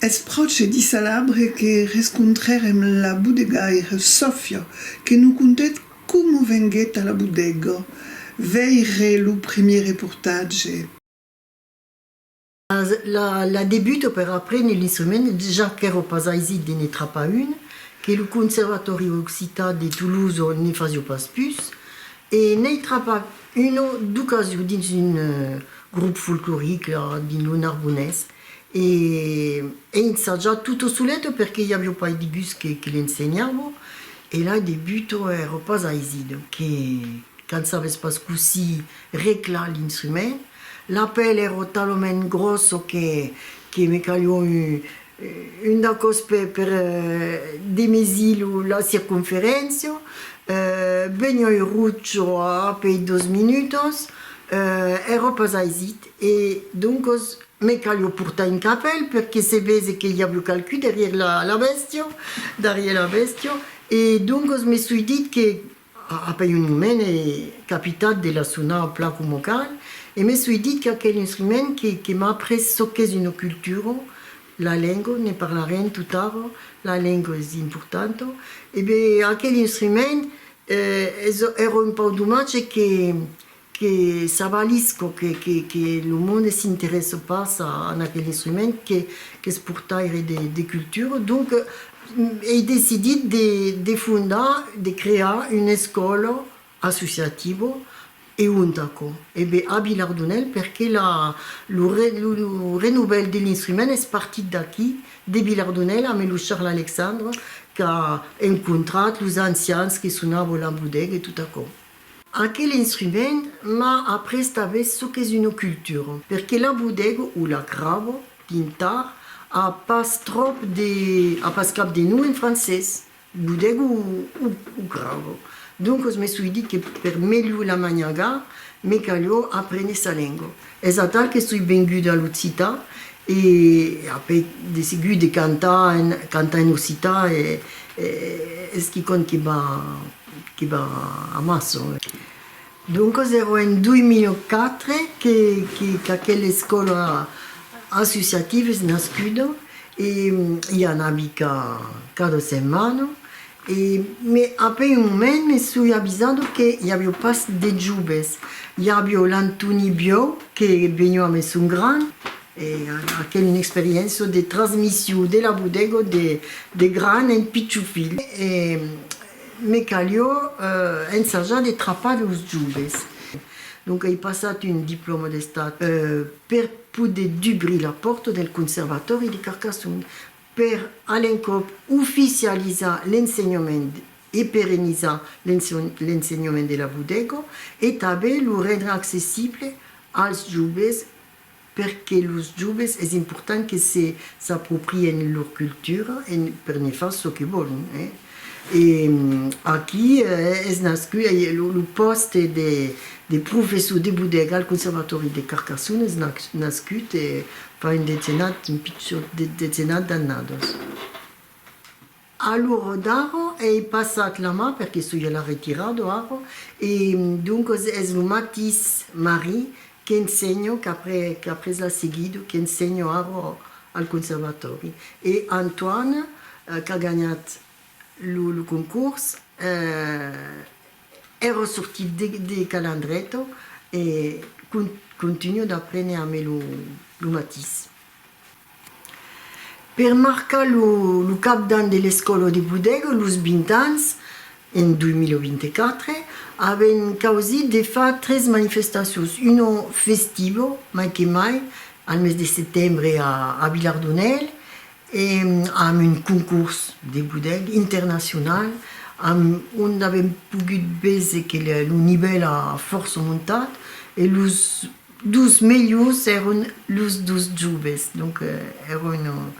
Eth pròche dissalabre que rescontrèrem la bodegaire Sòfia que non contèt coma venguèt a la bodega. Veire lo primièr reportatge. La debuto per apréner l'instrument, ja qu'èro pas aisit de ne trapar un, que lo Conservatòri Occitan de Tolosa ne fasió pas pus, e n'ei trapat un o d'ocasió dins un grop folcloric la, dins lo Narbonés, e ei ensajat tutto solet perque i avió pas de gust que l'ensenhavo, e la debuto èro pas aisit, que qu'an sabés pas cossí reclar l'instrument. La pèl ero talament grosso que que me calió un un dacòs per per demesir lo la circonferéncia. Venió un rucho apei dos minutos, ero pas aisit e doncos me calió portar un capèl perque se vese que i avió qualcú darrier la la bèstia, darrier la bèstia e doncos me soi dit que Après un moment è capitat de la sonar plan coma cal e me soi dit qu'aquel instrument que m'a après çò qu'es una cultura, la lenga, ne parlarem tot ara, la lenga es importanta, e ben aquel instrument èra un pauc domatge que que s'avalís co que que lo monde s'interesse pas a en aquel instrument que qu'es portaire de de cultura donc ei decidit de de fondar de crear una escòla associativa e ont aquò e be a Vilardonèl perque la lo re lo lo renovèl de l'instrument es partit d'aquí de Vilardonèl ame lo Charles Alexandre qu'a encontrat los ancians que sonava la bodega e tot aquò. Aquel instrument m'a après tanben çò qu'es una cultura, perque la bodego o la gravo, pintar, a pas tròp de, a pas cap de nom en francés, bodego o o gravo. Doncos me soi dit que per melhor la maniagar, me calhó aprene sa lenga. Es atal que soi venguda a l'occitan e après de seguit de cantar en cantar en occitan e es quicòm que m'a Que va amassa. Doncas èra en 2004 qu'aquela escòla associativa es nascuda e i anavi cada setmana e après un moment me soi avisada que i aviá pas de joves. I aviá l'Antoni Biau que veniá a Maison Grand E aquel un experienço de transmission de la bodego de gran en pichou filh e me calió ensajar de trapar los joves. Donc ei passat un diploma d'estat per poder dubrir la porta del conservatòri de Carcassonne per a l'encòp oficializar l'ensenhament e perenizar l'ensenhament de la bodego e tanben lo rendre accessible als joves Per que los joves es important que se s'aproprien lor cultura en per ne far çò que vòlon. E aquí es nascut lo pòste de professor de bodega al Conservatòri de Carcassona, es nascut fa un decenat, un pichon de decenat d'annadas. Alor d'aro ei passat la ma, perque soi la retirar do aro, e doncos es lo matis Mari qu'ensenho, qu'après l'a seguido, qu'ensenho aro al conservatòri, e Antoine qu'a ganhat lo concors, ero sortit de Calandreto e contunho d'aprene amé lo matis. Per marcar lo cap d'an de l'Escòla de Bodega, los 20 ans, en 2024, avèn causit de far tres manifestacions, una festiva, mai que mai, al mes de setembre a Vilardonèl, e amb un concors de bodega internacional, amb ont avèm pogut véser que lo nivèl a fòrça montat e los Dos melhors èron los dos joves, donc èron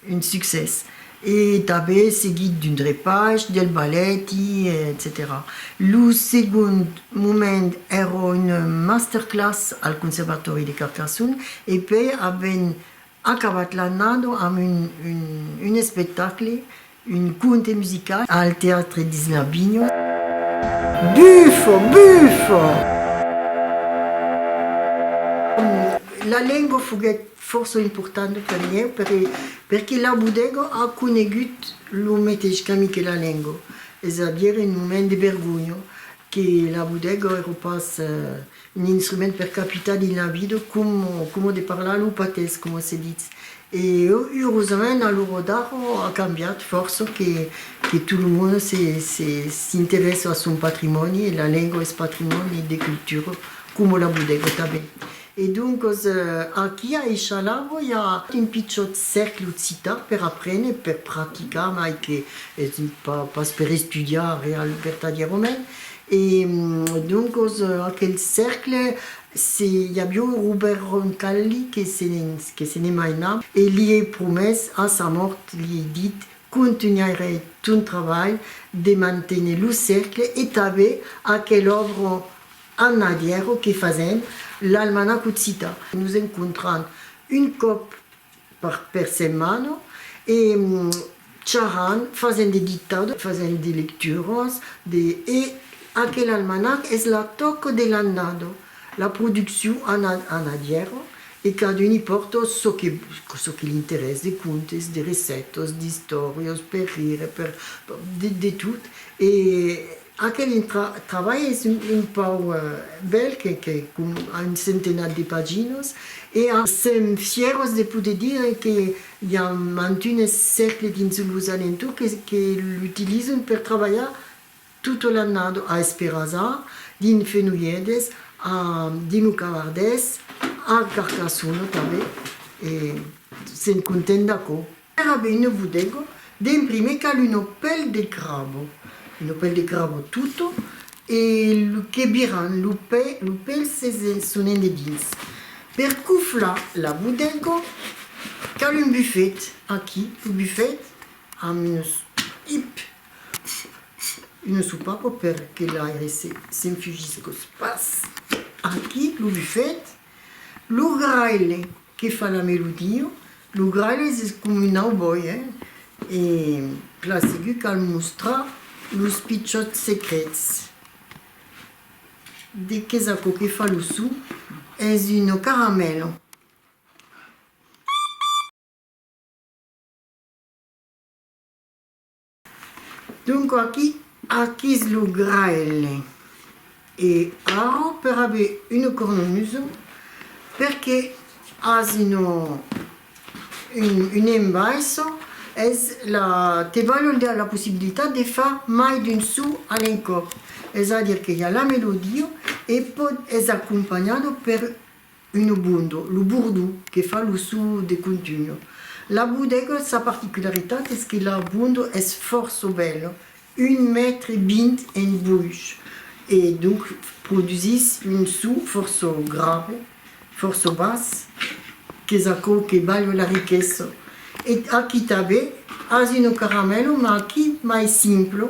un succès. E tanben seguit d'un drepatge, del balèti, etcetèra. Lo segond moment èra una masterclass al Conservatòri de Carcassonne e pei avèn Acabat l'annada amb un espectacle, un conte musical al Teatre Disney Vignon. Bufo! Bufo! La lenga foguèt fòrça importanta per ieu perque la bodega a conegut lo meteis camin que la lenga, es a dire un moment de vergonha que la bodega èra pas Un instrument per capitar dins la vida como, como de parlar lo patés, como se ditz. E eurosament a l'ora d'ara a cambiat fòrça que, que tot lo monde se, se, s'interessa a son patrimòni e la lengua es patrimòni de cultura como la bodega tanben. E doncas aquí a Eixalava i a un pichòt cercle occitan per aprene, per practicar mai que, pas per estudiar real vertadièrament, E doncos aquel cercle se i avió Robèrt Roncalli que se ne mainà e li ei promés a sa mòrt li ei dit contunhairè ton trabalh de manténer lo cercle e tanbé aquel òbro en adièro que fasèm l'almanach occitan. Nos encontran un còp per setmana e charrant, fasent de dictado, fasent de lecturas de e aquel almanac es la tòca de l'annada, la produccion ana en adièra e cadun i pòrta çò que çò que l'interès de contes, de recètas, d'istòrias, per rire, per de tot e Aquel trabalh es un pauc bèl, que a un centenat de paginas, e a. Sèm fieros de poder dire que i a mantunes cercles dins los alentours que l'utilizan per trabalhar tota l'annada, a Esperasa, dins Fenolhedes, a dins lo Cavardés, a Carcassona tanben, e sèm contents d'aquò. Era veine vodego d'en prime cal un opèl de crabo, un opèl de crabo tuto e lo que biran lo pè, lo pèl se se sonen de dins. Per coflar la vodego cal un bufet, aquí lo bufet amb unes ip, unes sopapo per que l'aire se se'n fugís cos pas, aquí lo bufet, lo graile Que fa la melodia. Lo gralhes es com un auboi, eh? E clar, segur cal mostrar los pichòts secrets. De qu'es aquò que fa lo son? Es un caramèlo. Donc aquí aquís lo graelle. E arro per aver una cornamusa perque asi no un embaissa es la te valon dar la possibilitat de far mai d'un so a l'encòp, es a dire que i a la melodia e pòt es acompanhada per Uno bondo, lo bordó, que fa lo so de contunho. La bodega, sa particularitat es que la bondo es fòrça bèla, un mètre vint en boish, e donc produsís un so fòrça grave, fòrça bas, qu'es aquò que balha la riquesa. E aquí tanben as uno caramèlo, mas aquí mai simple,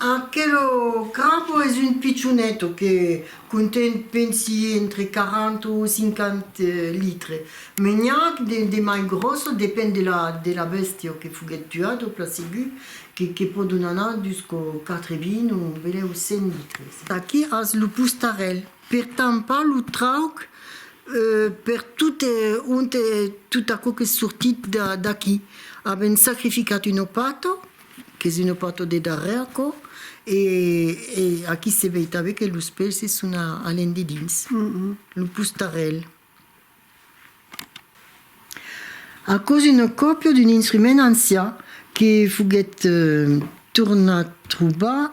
Aquelo crapo es un pichoneto que conten pensi entre 40 o 50 litres, me n'i ac de mai grosso, depend de la bèstia que foguèt tuada o plan segur, que pòdon anar dus cò 80 o belèu 100 litres. Aquí as lo postarèl per tampar lo trauc per tot ont tot aquò qu'es sortit d'aqui. Avèm sacrificat una pata Que si no porto de darrèr aquò e aquí se vei tanben que los pèlses son alent de dins lo postarèl. Aquò es una còpia d'un instrument ancian que foguèt tornat trobar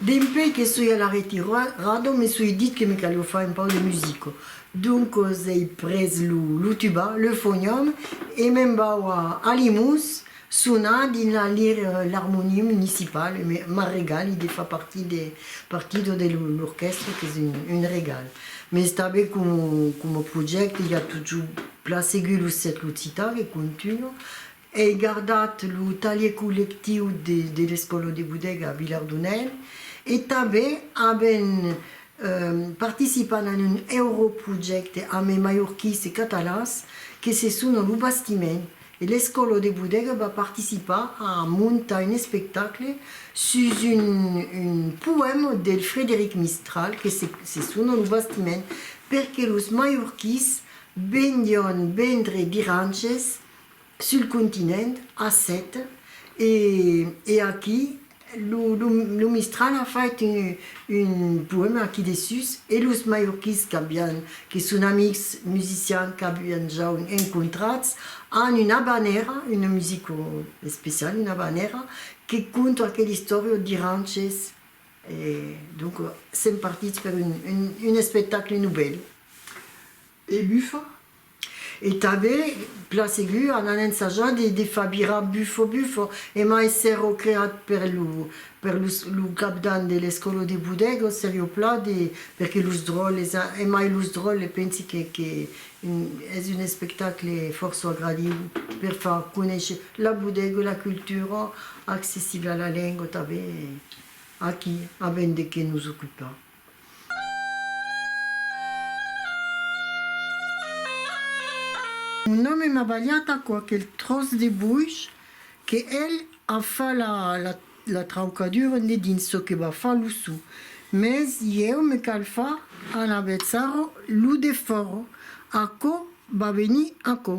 Dempui que soi a la retirada me soi dit que me calió far un pauc de musica. Doncas ei pres lo tuba, le fonham e me'n vau a Alimús Sonar dins la lire l'harmonie municipale e me m'a regali de far partir de partido de l'orquèstra qu'es un regal. Mes tanben coma projècte i a totjor plan seguit lo cècle occitan que contunha. Ei gardat lo talhier collectiu de l'Escòla de Bodega a Vilardunèn e tanben avèm participat en un europrojècte ame maiorquís e catalans que se sona Lo Bastiment E l'Escòla de Bodega va participar a montar un espectacle sus un poèma del Frederic Mistral que se sona Lo Bastiment perque los maiorquís vendián vendre viranches sul continent, a Sète e aquí Lo Mistral a fait un poèma aquí dessús e los mallorquins que son amics musicians qu'avián jau encontrats an una habanèra, una musica especiala, una habanèra que conta aquela istòria d'i ranches e donc sèm partits per un espectacle novèl. e bufa e tanben plan segur an an ensajar de de far virar bufo bufo emai s'èro creat per lo per los lo capdan de l'escolo de Bodego serio plan de perque los dròlles a emai los dròlles pensi que que un es un espectacle fòrço agradiu per far conéisher la Bodego la cultura accessible a la lenga tanben aquí a ben de que nos ocupar. Un òme m'a balhat aquò, aquel tròç de boish, que el a fa la la la traucadura ne dins çò que va fa lo sou. Mès ieu me cal fa en avetzar-ro lo defòro. Aquò va venir aquò.